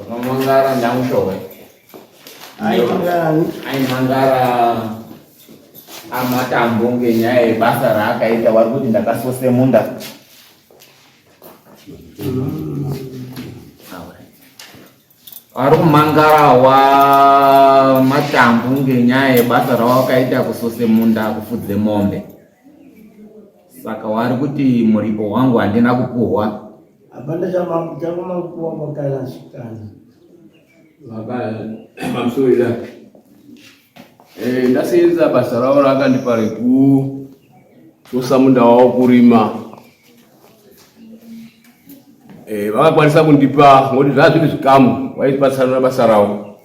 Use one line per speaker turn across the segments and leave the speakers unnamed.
Mangara ndang showe. Ai mangara. Ai mangara amatambo ngenyaya yebasa raakaita wari kuti ndakasose munda. Vari kumangarawa matambu ngenyaya yebasa rawakaita kusose munda kufudze mombe. Saka wari kuti muripo wangu handina kupuhwa. Hapana
chamakupuwa kwakalasikana. Baba,
I'm sorry that. Eh, ndaseenza basa ravo raakandipa rekusosa munda wavo kurima eh, vakakwanisa kundipa ngoti zvaa zviri zvikamu vaipatsanura basa ravo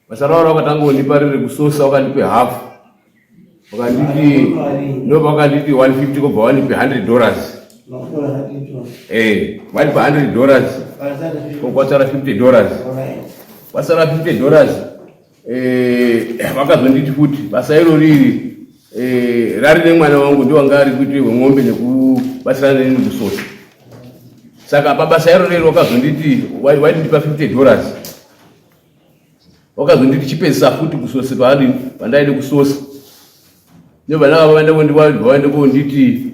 basa ravo rakatanga kundipa riri kusosa vakandipe hafu vakanditi ndo vakanditi 150 kobva vanipe 100 dollars eh, vanipa 100 dollars kokwasara 50 dollars kwasara 50 dollars Eh, vakazonditi futi basa iro riri eh, rari nemwana wangu ndiwanga ari kuite wemombe nekubatsirana neni kusota saka pabasa iro riri wakazonditi waindipa 50 dollars wakazonditi chipedzisa futi kusose paadi pandaide kusose nevana vavo vaende kondivaende konditi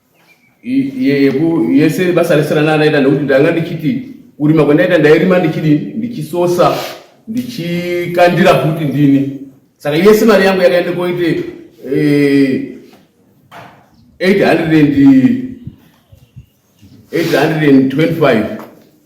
yese basa rese randaiita nekuti ndanga ndichiti kurima kwandaita ndairima ndichidi ndichisosa ndichikandira kuti ndini saka yese mari yangu yakaenda koite 825 eh,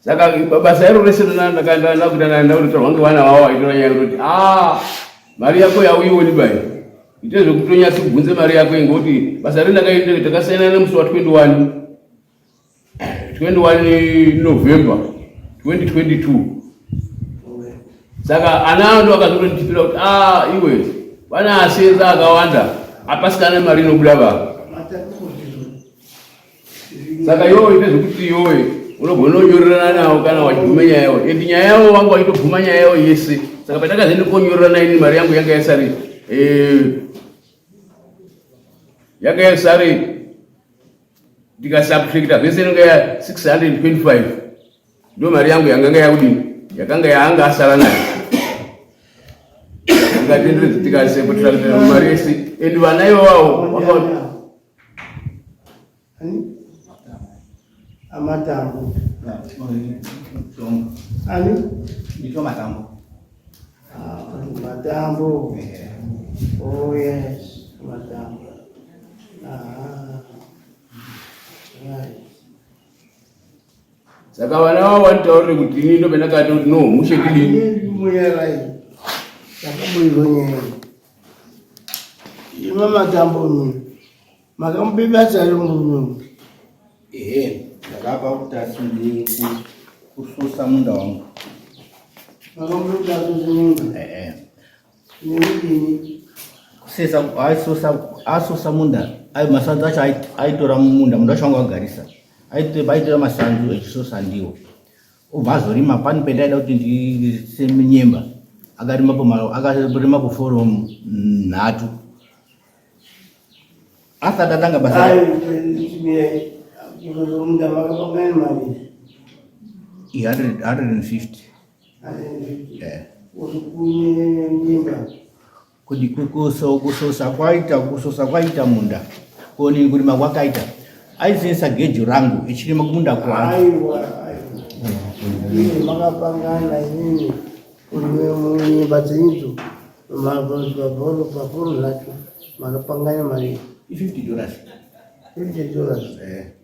saka basa iro rese ndakaendakuita ndaenda kunotorwa ngevana vavo vaitora nyaya kuti a ah, mari yako yauioni bai ite zvekutonyatsi kubvunze mari yako ingoti basa ri ndakaendere takasiyana nemusi wa 21 21 november 2022 saka ana ando akazotonditipira kuti a ah, iwe vana asenza akawanda apasikana mari inobuda vava saka yowe ndezvekuti yowe unogona kunyorerana navo kana wachiguma nyaya yavo and nyaya yavo vanga wachitoguma nyaya yavo yese saka pandakazoenda konyorerana ini mari yangu yanga yasari eh, yanga yasari ndikasubtracta zvese inenge ya 625 ndo mari yangu yanganga yakudini yakanga yaanga asara nayo tikatenderedza tikasepotrakta mari yese and vana ivawawo
amatambo ani nditwa matambo matambo oh yes matambo
saka vana vavo vanitaurire kuti ini ndo pandakati kuti no mushe kudini mweyarai
ndakamuizonyera Ima matambo nyuma. Makamubiba tsari munyumbi. Ehe, ndakapa
kuti asindii kususa munda wangu.
Makamubiba tsari munyumbi. Ehe. Nini? Kusesa,
aisusa, asusa munda. Ayo masanzu acho aitora munda, munda wacho wangu wagarisa. Aitora masanzu echisusa ndiwo. obva azorima pani pendaida kuti ndiise nyemba akarima pamalo akarima poforomu nhatu asati atanga basa Kuti kukosa ukusosa kwaita kusosa kwaita munda koni kurima kwakaita aisensa gejo rangu ichirima kumunda kwangu
makapangana inini kunyimba dzenidzo mabhoro pafuru zvacho makapangana mari i 50
dollars 50
dollars eh.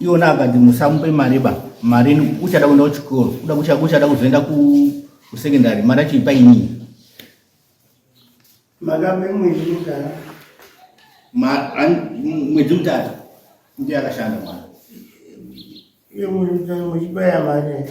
iona akati musamupe mari ba mari uchada kuenda kuchikoro kuda kucha kuchada kuzoenda ku kusecondary mari yacho ipa inii makape mwedzi mutatu mwedzi mutatu ndiye akashanda mwana iye mwedzi mutatu
muchibaya mari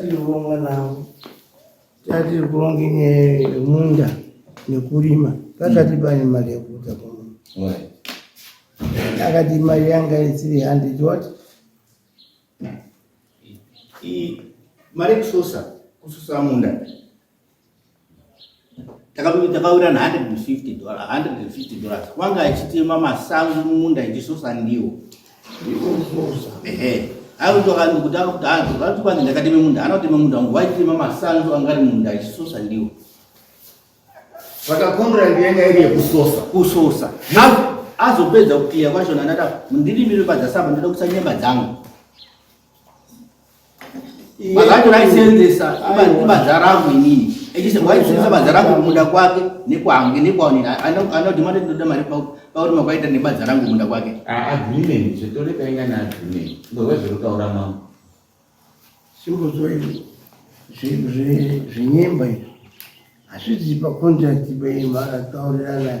Tiri kuronga navo tatiri kuronga inyaya yemunda nekurima pakati mm. pane mari yekuita kuno akati mari yanga isiri handed what
mari kususa kususa munda takawira na 150 dollars 150 dollars wanga achitema masango mumunda ichisosa ndiwo ehe aitokanzi kuti akuti anzi vati kwanzi ndakateme munda anoteme munda wangu waitema masango anga ari munda ichisosa ndiwo saka
contract yanga iri yekusosa kusosa
azopedza kukiya kwachona ndada mundirimire padzasamba ndoda kusa nyemba dzangu Makato raisenzesa ibadza rangu inini echise waisenzesa badza rangu kumunda kwake nekwange nekwaonini anodhimanda tinoda mari pauri makaita nebadza rangu kumunda kwake ah, agreement zvetore
kainga neagreement ngowe zvirikutaura mambo
sikuzoe zvenyemba izvi hazvizipa contract beimara taurirana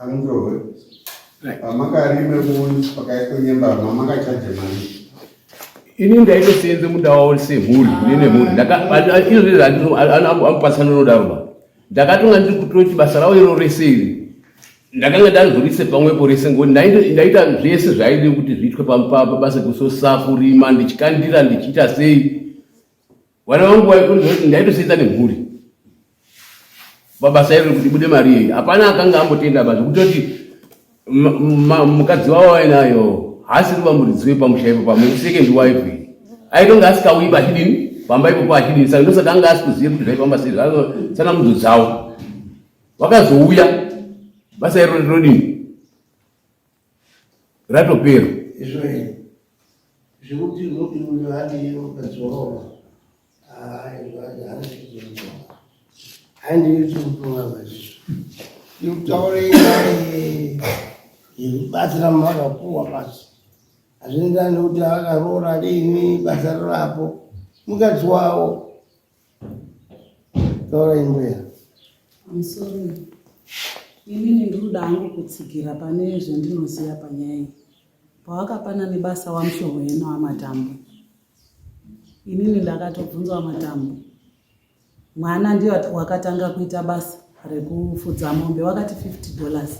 Andowe. Pamakarime munhu pakaitwa nyembama makachaje manje. Ini
ndaitosenze muda wao semhuri nene mhuri. Ndaka izvi zvandino anopasana nodaro ba. Ndakatonga ndiri kutoti basa rao iro rese iri. Ndakanga ndazvirise pamwe porese ngoni ndaita zvese zvaide kuti zviitwe pamupapa basa kusosafu rima ndichikandira ndichiita sei. Vana vangu vaikuti ndaitosenza nemhuri mabasa ero kuti bude mari iyi hapana akanga ambotenda basa kutoti mukadzi wavo ainayo haasi kuva muridzi wepamusha ipo pamwe second wife iyi aitonge asikauyi pachidini pamba ipopo achidini saka ndosaka anga asikuziva kuti zvaifamba sei sana mudzo dzavo vakazouya basa iro rinodini ratopera izvoi
zvekuti unoti uyo ati ukadzorova aizvaazvizoa handiyuchimutumwa mazizvo ikutaurei yekubatsira makapuwa basi hazvienderani nekuti akaroora riini basa rirapo mukadzi wavo Taura imbuya. I'm sorry.
Inini ndinoda hangu kutsigira pane zvandinoziva panyaya iyi. Pawakapana nebasa wamushoho yena wamatambo. Inini ndakatobvunza wamatambo. Mwana ndiye wakatanga kuita basa rekufudza mombe wakati 50 dollars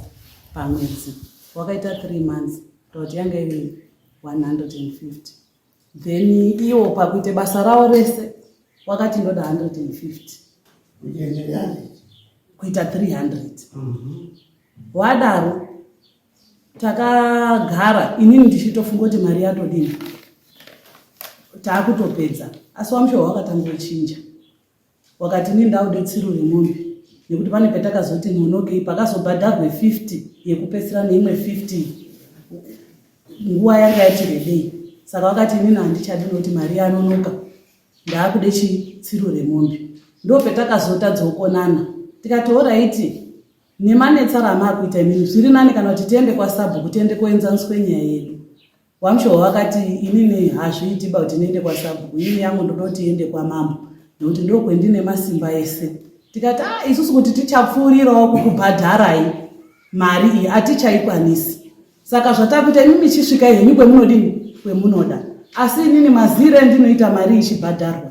pamwedzi. Wakaita 3 months. Ndoti yanga iri 150. then iwo pakuita basa rawo rese wakati ndoda 150 kuita 300 mhm. wadaro takagara inini ndichitofunga kuti mari yatodini taakutopedza asi wamushohwa wakatanga kuchinja wakati ini ndaude tsiru remombe nekuti pane patakazoti nonokei pakazobhadharwe 50 yekupesera neimwe 50 nguva yanga yati rebei saka wakati inini handichadi nokuti mari yanonoka ndaakude chitsiru remombe ndo petakazotadzawo konana tikati horaiti nemanetsara amaakuita imini zviri nani kana kuti tiende kwasabhuku tiende koenzaniswe nyaya yedu Wamshowa wakati inini hazviiti ba kuti ndiende kwasabhuku ini yangu ndototi iende kwamambo nekuti ndokwendine masimba ese tikati ah isusu kuti tichapfuurirawo kukubhadharai mari iyi hatichaikwanisi saka zvatakuita imi michisvika henyu kwemunodini kwemunoda asi inini mazire ndinoita mari ichibhadharwa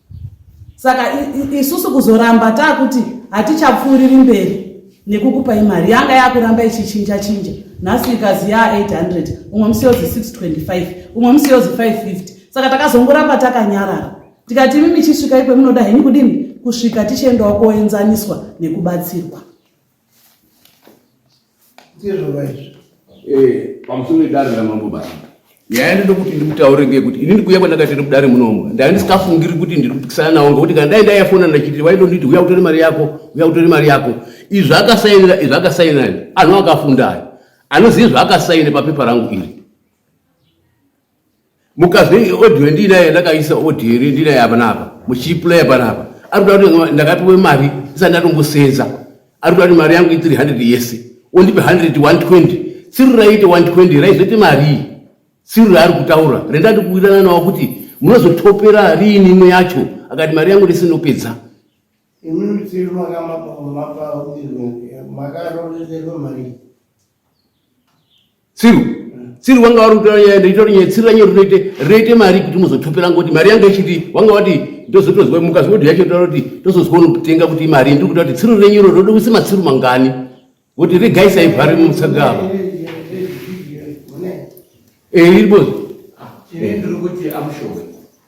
saka isusu kuzoramba taakuti hatichapfuuriri mberi nekukupai mari yanga yakuramba ichichinja chinja nhasi ikazi yaa 800 umwe musi yozi 625 umwe musi yozi 550 saka takazongoramba takanyarara tikati imi michisvika ikwe munoda henyu kudini kusvika tichiendawo koenzaniswa nekubatsirwa ndizvova izvi
eh, pamusoro edare ramambo basa nyaya ndinoda kuti ndimutaure ngekuti ini ndikuuya kwandakaita iri mudare munomu ndanga ndisikafungiri kuti ndiri kupikisana nawo ngekuti kana dai ndaiyafona ndachiti waindonditi uya kutore mari yako uya kutore mari yako izvi zvakasainira izvi zvakasainira anhu akafundayo anoziva zvaakasaine papepa rangu iri mukazve audio ndinaye ndakaisa audio iri ndinaye apa napa muchiplaya panapa ari kuda kuti ndakapiwe mari isati ndatombosenza ari kuda kuti mari yangu i 300 yese ondipe 100 120 siri raite 120 raizoite marii siri raari kutaura rendati kuwirirana nawo kuti munozotopera riini imwe yacho akati mari yangu ndese ndopedza
tsiru
tsiru wanga wari kutora nyaya nditori nyaya tsiru ranyori rinoite rinoite mari kuti muzotopera ngoti mari yanga ichiti wanga wati ndozotozwa mukazi wodhi yacho taura kuti tozozwa unokutenga kuti imari ndiri kuta kuti tsiru renyuro roda kuisa matsiru mangani kuti regai saivhari musagava eiribozi eh, eh, eh, ndiri
kuti amushowe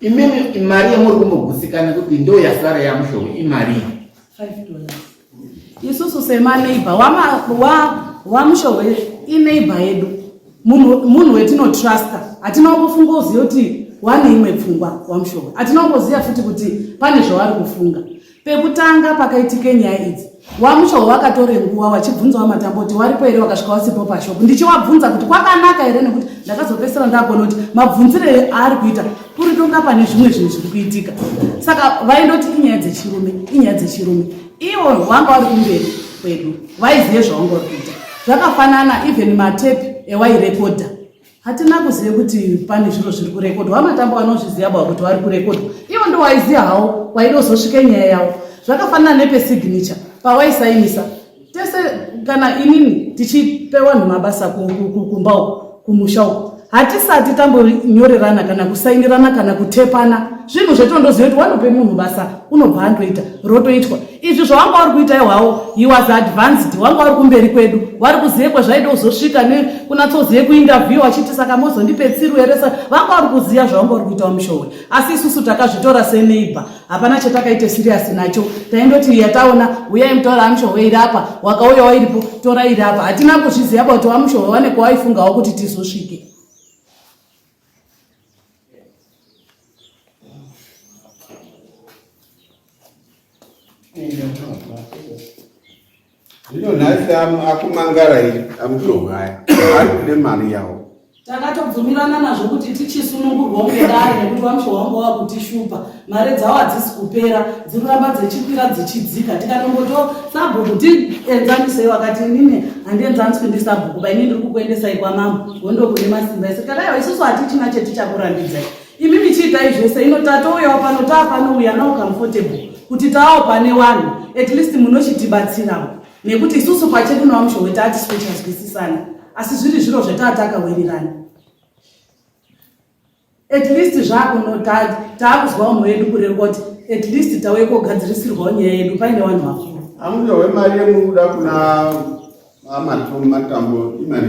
Imimi imari yamuri kumbogutsikana kuti ndo yasara yamushonga imari
isusu semaneighbor wamushonga ineighbor yedu munhu wetinotrusta hatina kufunga uziva kuti wane imwe pfungwa wamushonga hatina kuziva futi kuti pane zvavari kufunga Pekutanga pakaitike nyaya idzi, VaMushoho vakatore nguva vachibvunza VaMatambo kuti waripo here wakasvika wasipo pashop. Ndichivabvunza kuti kwakanaka here nekuti ndakazopesera ndakona kuti mabvunzire aari kuita kuri tonga pane zvimwe zvinhu zviri kuitika. Saka vaindoti inyaya dzechirume, inyaya dzechirume. Ivo vanga vari kumberi kwedu, vaizive zvavanga vari kuita. Zvakafanana even matepi ewairekodha hatina kuziva kuti pane zviro zviri kurekodwa vamatambo vanozviziva bwa kuti vari kurekodwa ivo ndo waiziva hawo waidozosvika nyaya yavo zvakafanana nepesignature pawaisainisa tese kana inini tichipe vanhu mabasa kumba uko kumusha uko hatisati tambonyorerana kana kusainirana kana kutepana zvinhu zvetondoziva kuti wanope munhu basa unobva andoita rotoitwa izvi zvawanga uri kuita ihwawo he was advanced wanga uri kumberi kwedu wari kuzive kwezvaida kuzosvika nekunatsouzive kuinterview wachiti saka mozondipe tsiru here sa vanga uri kuziva zvawanga uri kuita wamushowe asi isusu takazvitora seneighbor hapana chatakaita serious nacho taindoti yataona uyai mutora wamushowe iri apa wakauya wairipo tora iri apa hatina kuzviziva kuti wamushowe wane kwawaifungawo kuti tizosvike
Zvino nhasi akumangara iyi amutohaya arikude mari yawo takatobvumirana
nazvo kuti tichisunungurwa ungedare nekuti wamusha wangu wava kutishupa mari dzawo hadzisi kupera dzikuramba dzichikwira dzichidzika tikanongoto sabhuku tienzanisei wakati inini handienzaniswi ndi sabhuku bainini ndiri kukuendesai kwamambo wondokune masimba ese kadaiwa isusu hatichina chetichakurambidzai imi michiitai zvese ino tatouyawo pano taa pano uya now comfortable kuti taawo pane wanhu at least munochitibatsirawo nekuti isusu pachedu nawamushowe taatisi kuchazwisisana asi zviri zviro zvetaa takawirirana at least zvakunotati taakuzwawo mwoyo yedu kurerwa kuti at least tauye kogadzirisirwawo nyaya yedu paine wanhu vakuru amushowe mari yemuri
kuda kuna amatom matambo imari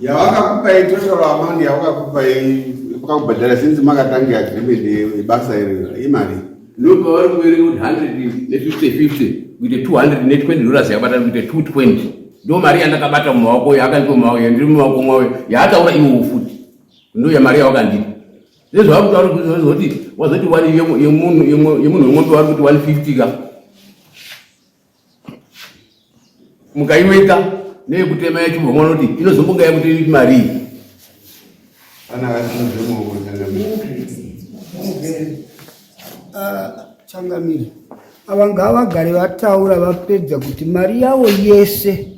yavakakupai
total amount yavakakupai vakakubhadhara since makatanga agreement yebasa iri imari ndopavari
kuverenga kuti hundred nefifty fifty kuite two hundred netwenty dollars yakabatana kuite two twenty ndo mari yandakabata mumaoko uyo akandipa mumaoko yandiri mumaoko mwawe yaataura iwowo futi ndo yamari yawakandipa zvezvavakutaura kuti vazoti wazoti wani yemunhu yemombe wari kuti one fifty ka mukaiweka neyekutema yacho vamwe vanoti inozombonga yakuti iri mari ana
changamire ava ngavagare vataura vapedza kuti mari yavo yese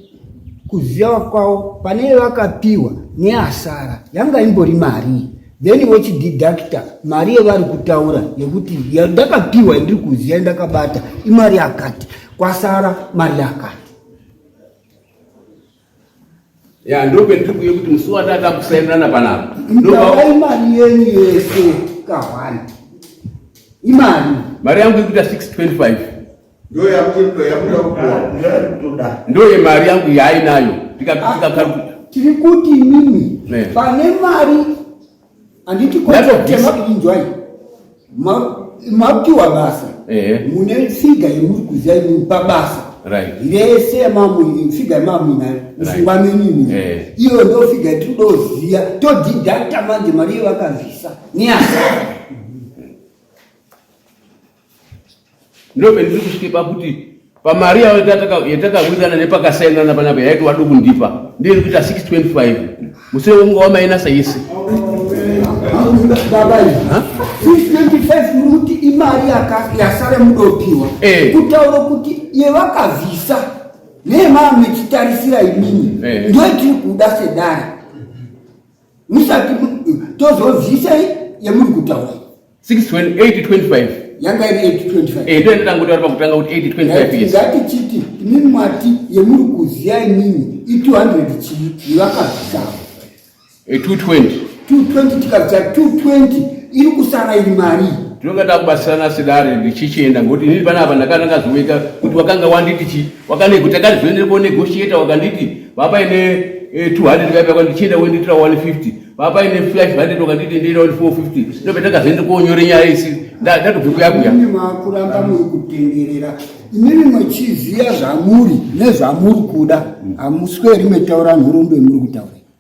kuziva kwavo pane vakapiwa neasara yanga imbori marii then vochididactor mari yevari kutaura yekuti ndakapiwa yandiri kuziva ndakabata imari yakati kwasara mari yakati
ya ndopendiri kuye kuti musi watata kusainana panapa ndovaa imari
yenyu yese kahwani imari mari yangu
ikuita 625
ndoye mari yangu
yaainayo
tiri kuti mimi pane mari handiti kotemakuinzwai mapiwa basa mune figa yemuri kuziva imimi pabasa rese yamamu figa yamamu inayo musungwa menini iyo ndo figa yatinoziva todidakta manje mari iyo vakazvisa neasa
ndopendiri kusvike pakuti pamari yavo yatakawirirana nepakasainana panapa yaiti wadi kundipa ndiri kuita 625 musire wonga wamainasa yese
kuti imari yasara mudopiwa eh. kutaura kuti yevakavhisa nemaamechitarisira imini eh. ndoitiri kuda sedare musati tozozivisai yamuri kutaura 6:25 yanga iri 8:25 eh ndio ndangoti vari pakutanga
kuti 8:25 yes ngati chiti inini
mwati yemuri kuziya inini i 200 chii vakazvisava 220 220 tikabva 220 iri kusara iri mari tinonga takubatsirana
sedare ndichichienda ngokuti inini panapa ndakanga ndakazoita kuti wakanga wanditi chii Wakanego takazoenda ko negotiator wakanditi baba ine 200 eh, vaipa kwandichienda wenditira 150 baba ine 500 wakanditi ndira 450 ndobe takazoenda konyore nyaya isi ndatobve kuyakuya ini makuramba
muri kutenderera inini mwechiziya zvamuri nezvamuri kuda hamusweri metaura nhurumbe muri kutaura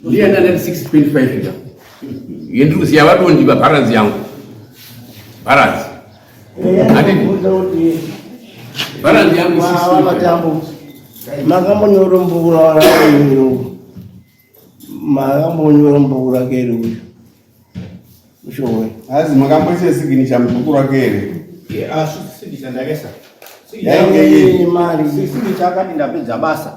Ndiye
ndandati 6.5 ya. Yendiri kuziya vadondi va balance yangu. Balance. Ati balance yangu 6.5. Makambonyora
mbura wala yiro. Makambonyora mbura kero uyu. Ushowe. Hazi
makamboise sigini cha mukuru wake here? Yeah,
asi sigini chandakesa.
Sigini chakati
ndapedza basa.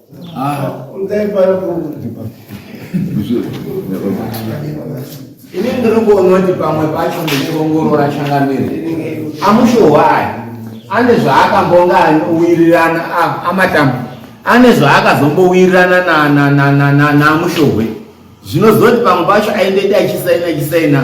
Ah,
ini ndinokuona kuti pamwe pacho ndichiongorora changamire amushohwai ane zvaakambonga wirirana amatambo ane zvaakazombowirirana namushohwe zvinozoti pamwe pacho aindedi achisaina chisaina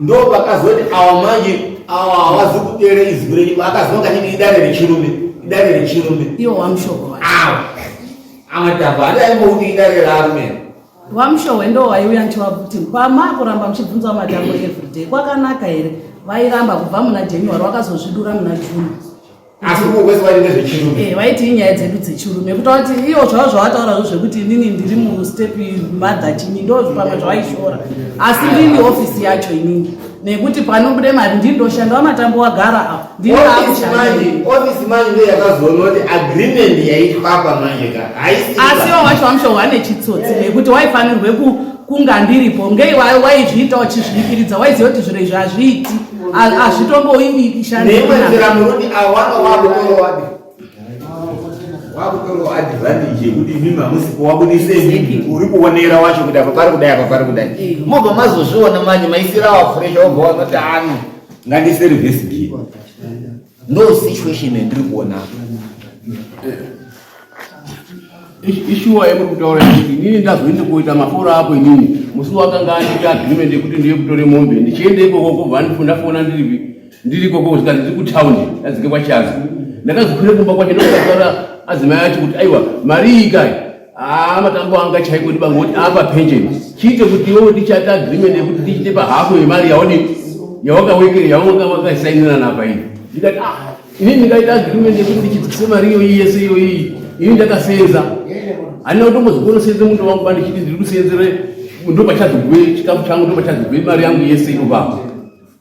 ndo vakazoti awa manje awa hawazi kuteera izwi renyu vakazwa kachiti idare rechirume idare rechirume iwo wamushoko
awa
amatamba hati aimouti idare rarume wamushohwe
ndo waiuya ndichivabuti pama kuramba muchibvunza matambo everyday kwakanaka here vairamba kubva muna january wakazozvidura muna june asi ukwezi
wainge zvechirume eh waiti inyaya dzedu
dzechirume kutaura kuti iyo zvavo zvawataura zvo zvekuti inini ndiri mustep mother chini ndo pamwe zvawaishora asi ndini ofisi yacho inini nekuti panobude mari ndini ndoshanda wamatambo wagara apo ndiniofisi
manje ndo yakazoona kuti agreement yaitwapa manje ka asiwo wacho
wamushohwa nechitsotsi nekuti waifanirwe kunga ndiripo ngei waizviita uchizviikiridza waiziva kuti zviro izvi hazviiti hazvitomboimbi neimwe nzira murundi avo vanga
vakutorowabi vakutorowa advantage yekuti imimi hamusi kuwabudise imimi uri kuonera wacho kuti apa pari kudai apa pari kudai eh. mobva mazozviona manje maisirawa fresha obva wanoti ano ngandiserivisgie ndo situation yandiri kuona
ishuwa yamuri kutaura kuti inini ndazoende kuita maforo apo inini musi wakanga andita agreement yekuti ndiye kutore mombe ndichienda ikoko kubva ndifundafona ndiripi ndiri ikoko kusika ndiri kutown ndadzike kwachazi ndakazokwire kumba kwacho ndokutaura adzimai acho kuti aiwa mari iyi kai Ah, matambo anga chaiko ndiba ngoti apa pension chiite kuti iwe ndichata agreement yekuti tichite pahafu yemari yaone yawakawekere yawanga wakasainirana apa iyi ndikati ah ini ndikaita agreement yekuti ndichidzikise mari iyoyi yese iyoyi ini ndakasenza handina kutombozokonosenze mundo wangu ba ndichiti ndiri kusenzere ndopachazogwe chikafu changu ndopachazogwe mari yangu yese inobva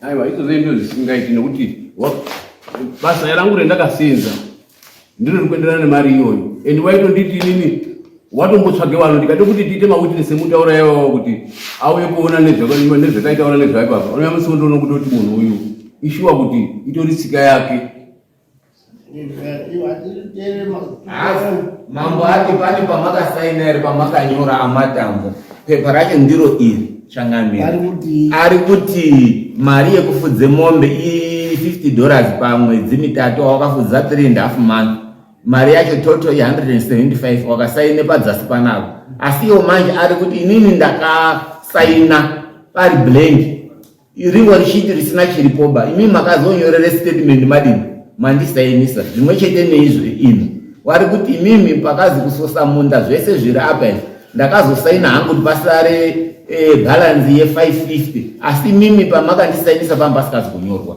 aiwa
idzo zendo zvisingaiti nekuti basa rangu rendakasenza ndiro rikuenderana nemari iyoyo and waitonditi inini watombotsvage vanhu ndikade kuti tiite mawitness emutaura yavawo kuti auye kuona nezvakaitaura nezvaipapa unoya musi wondoona kuti oti munhu uyu ishuwa kuti itori tsika yake
mambo ati pane pamakasaina iri pamakanyora amatambo pepa racho ndiro iri changamira ari kuti mari yekufudze mombe i 50 dollars pamwedzi mitatu awakafudza 3 and half month mari yacho toto i 175 wakasaine padzasi panako asi iwo manje ari kuti inini ndakasaina pari blank ringo richiti risina chiripoba imi makazonyorere statement madini mandisainisa zvimwe chete neizvi ino wari kuti imimi pakazi kusosa munda zvese zviri apa izvi ndakazosaina hangu kuti pasare e, bhalanzi ye 550 asi mimi pamakandisainisa pamba pasikazi kunyorwa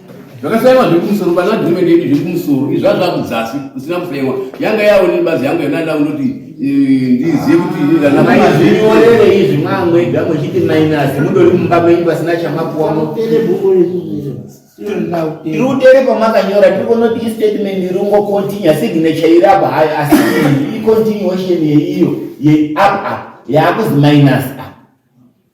zvakasaiwa zviri kumusoro pana agreement yedu zviri kumusoro izvaa zvakudzasi kusina kusaiwa yanga yawo nebazi yangu yanaida kundoti eh, ndizive kutiizvinyorere
izvi mwamwega muchiti minus mudori mumba menyu pasina chamapuwamo tirutere pamakanyora tiri kunoti istatement iri ungocontinua signature iri apa hayo asi icontinuation yeiyo yeiapa yaakuzi minus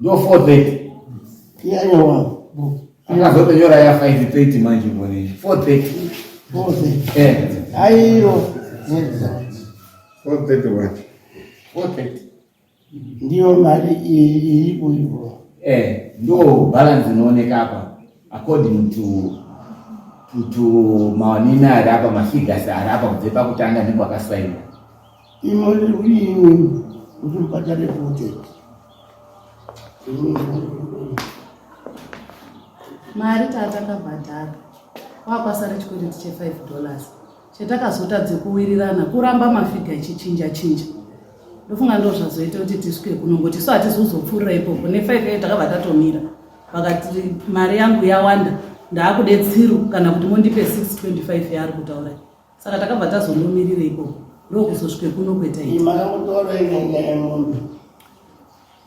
Ndo 430. Iya iya
wangu. Akazotonyora ya
530 manje mboni. 430. 430. Eh.
Aiyo. Nyenza.
430 wacho.
430.
Ndiyo mari iri kuivo. Eh, ndo
balance inooneka hapa according to to to maonini ari apa mafigures ari apa kubve pakutanga ndipo akasainwa Imali
yini kuti ubhadhare futi?
Mari tatanga bhadhara kwakwasara chikwereti che 5 dollars chatakazotadze kuwirirana kuramba mafiga ichichinja chinja ndofunga ndo zvazoita kuti tisvike kuno ngokuti so hatizi kuzopfuurira ipopo nefive e takabva tatomira vakati mari yangu yawanda ndaakude tsiru kana kuti mondipe 625 yaari kutaura Saka takabva tazomumirira ikoko ndokuzosvike kuno kweta iyi. Makamutora inyanya
yemunhu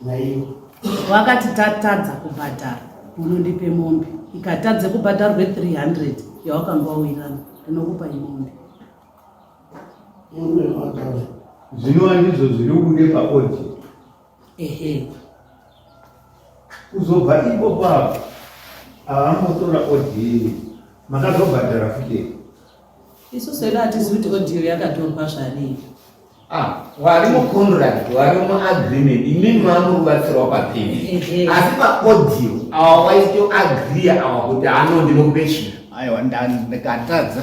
naiwo. Wakati
tatadza kubhadhara unondipe mombe ikatadze kubhadharwe 300 yawakanga wawirana ndinokupa imombe.
Zvino andizvo
zviri kude paodhi. ehe kuzobva iko kwavo avambotora audio makazobhadhara futi isu
sedu hatizivi kuti audio yakatorwa zvadii ah,
wari mucontract wari muagreement imini mamuri kubatsirwa papeni asi paaudio awa waitoagria awa kuti ano ndinokupe chii aiwa
ndikatadza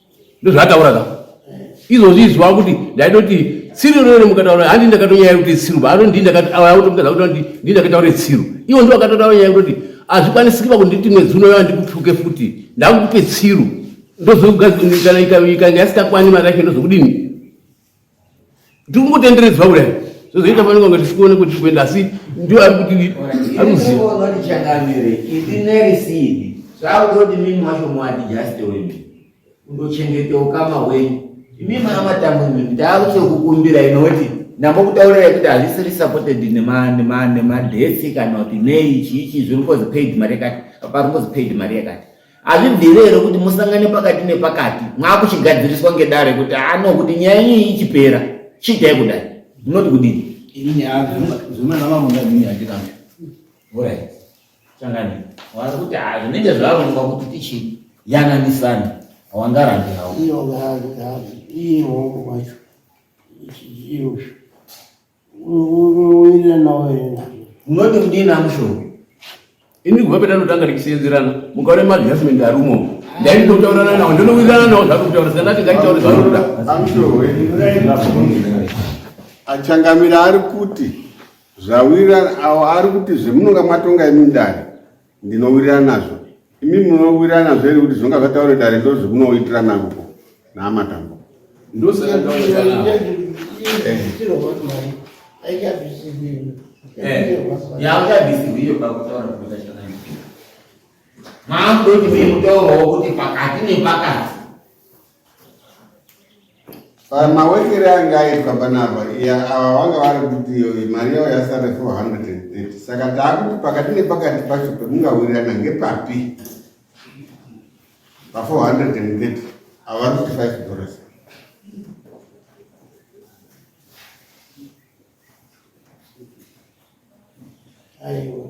ndozvaataura ka izvozvi izvi vakuti ndaitoti tsiru inoyone mukataura handi ndakatonyaya kuti tsiru vaano ndi ndakaakutomutadza kuti ndi ndi ndakataure tsiru ivo ndo vakatotaura nyaya kutoti hazvikwanisiki vakunditi mwedzi unoyo andikutuke futi ndakukupe tsiru ndozokugadzikana ikanga yasikakwani mari yacho ndozokudini ndikungotenderedzwa kudai zvozoita fanira kunge tisikuone kuti tikuenda asi ndio ari kuti aruzivatichangamire
isi nerisidi zvakutoti mimi wacho mwadi just wemi undochengete ukama hwenyu imi mana matambo imimi ndaakutokukumbira inoti namba kutaura yekuti hazvisiri supported nemadhesi kana kuti nei chii chii zviringozi paid mari yakati paringozi paid mari yakati hazvibvire here kuti musangane pakati nepakati mwakuchigadziriswa ngedare kuti ano kuti nyaya iyi ichipera chiitai kudai munoti kudini ini nyaya zvimana vangu ngazvinge hazvirambe orit changani wari kuti hazvinenge zvarongwa kuti tichiyananisani hawangarambi hau iyo ngaazi
iyo hongo macho iyo Unoti mdini
amushonga. Ini
kubva petanotanga tichiseenzerana mukaona maadjustment ari umomo ndaiti ndokutaurana nawo ndinowirirana nawo zvako kutaura saka ndati ngaitaure zvanoda
achangamira ari kuti zvawirirana awo ari kuti zvemunonga mwatonga imi ndani Ndinowirirana nazvo. Imi munowirirana nazvo here kuti zvinonga zvataure dare ndo zvikunoitirana kuko naamatambo? Ndosaka ndinowirirana. Eh. Eh. Yaakabvisirwa
iyo pakutaura kuita chakanaka. Maakutoti mutauro wokuti pakati nepakati
pamawekere ange aitwa panapa ava vanga vari kuti mari yavo yasare 430 saka taakuti pakati nepakati pacho pemungawirirana ngepapi pa 430 ava vari kuti 5 dollars aiwa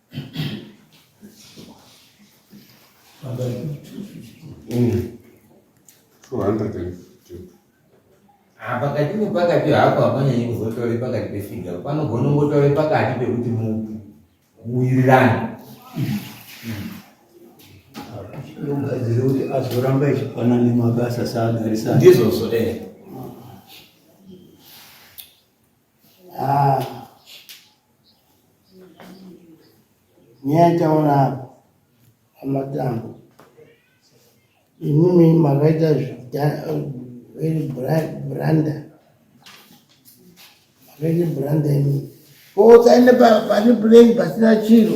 Mm. pakati nepakati hapo hapanyanyi kuzotaure pakati pefiga panogona kungotaure pakati pekuti mupi muwirirani
ndogadzire kuti azoramba echipana nemabasa saagarisana ndizvozvo ee eh.
Ah.
Nyaya itaona apo amatambo imimi makaita branda makaita branda imimi koutsaende pane puleni pasina chiro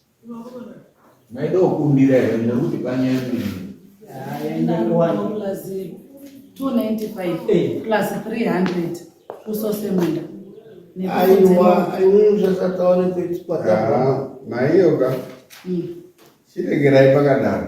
maida kukumbira here nekuti panyaya
mbiri
aiwa aiunzvasataone kuitwa maiyoka
chiregerai pakadaro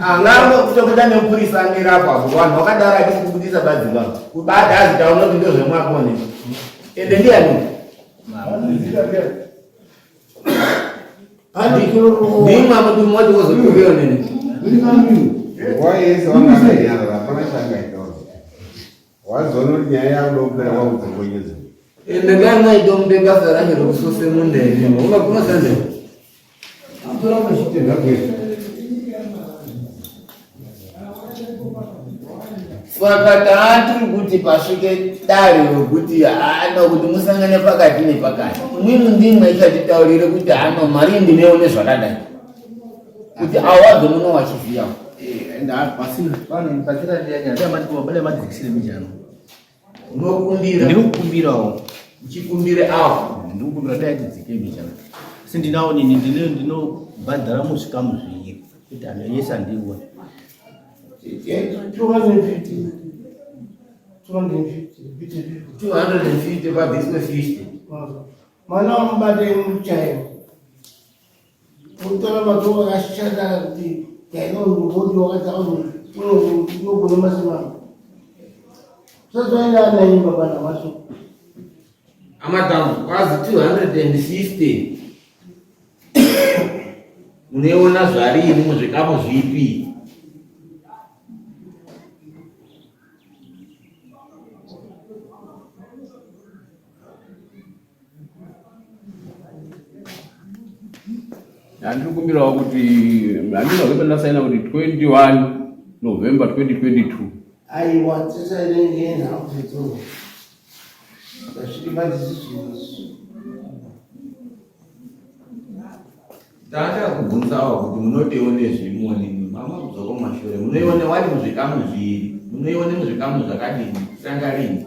Ngamba kuto kuda nemupurisa amira apo apo vanhu vakadara ati kubudisa badzimba kubada azitaona kuti ndozvemwako ne ende ndiyani ndimwa muti mmoja wozokuveyo nini
Wazoona kuti nyaya yakuda kupera
kwakudzokonyedza. Ndakaya maidomupe basa racho rokusose munda imi. Unga kunosanze. Atora
mashitenda
kwese. Saka taatiri kuti pasvike dare rokuti hano kuti musangane pakati nepakati. Imwimwi ndimwe ichatitaurire kuti hano mari ndineone zvakadai. kuti awo abve
muno wachiziva ndikukumbirawo uchikumbire
awo ndikukumbira dai tidzike
mbichana asi ndinawo nini ndinobhadhara muzvikamu zvinyika kuti anhu yese andione
mwana
wamubate muchairo Mutara matoa akashanda kuti kaina urubodi wakataura unogona masimama. Sasa ina anaimba bana wacho.
Amadamu kwazi 250 munoiona zvarini muzvikamu zvipi
Handiri kumbirawo kuti handina kuimba ndasaina kuti 21 November 2022. Aiwa
tisaine ngeni hakudzidzoa. Ndasvika pandisi zvinhu izvi.
Tanda kubvunzawo kuti munotione zvimoni mama kudzoko mashure munoione wani muzvikamu zviri munoione muzvikamu zvakadini sanga rini